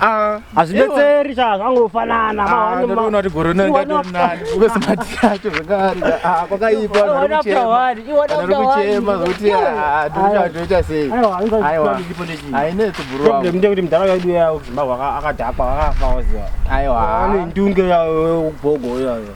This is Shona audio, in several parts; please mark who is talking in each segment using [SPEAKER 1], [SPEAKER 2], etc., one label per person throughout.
[SPEAKER 1] Ah, hazvibetseri sha zvangofanana ah, ndoona kuti gore rino ingatonani ube smart yacho zvakare ah, kwakaipa ari kuchema zvokuti toita sei aiwa hainetsi problem ndekuti mudhara wedu yayo kuzimbabwe akadhakwa akafa waziva aiwa ane ndunge yayo ubhogo yayo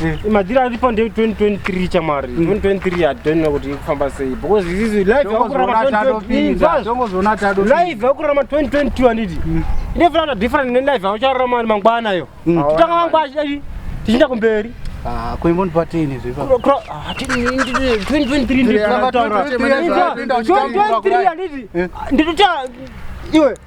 [SPEAKER 1] Mm. Imagine ari pande 2023 chamari. 2023 I don't know kuti ikufamba sei because this is life yakurama 2023. Life yakurama 2022 anditi. Mm. Ine fana different ne life yacharama mangwana yo. Mm. Tutanga mangwana chidai. Tichita kumberi. Ah, kuimboni
[SPEAKER 2] patini zvipa. 2023
[SPEAKER 1] ndikutaura. 2023 anditi. Ndikuta iwe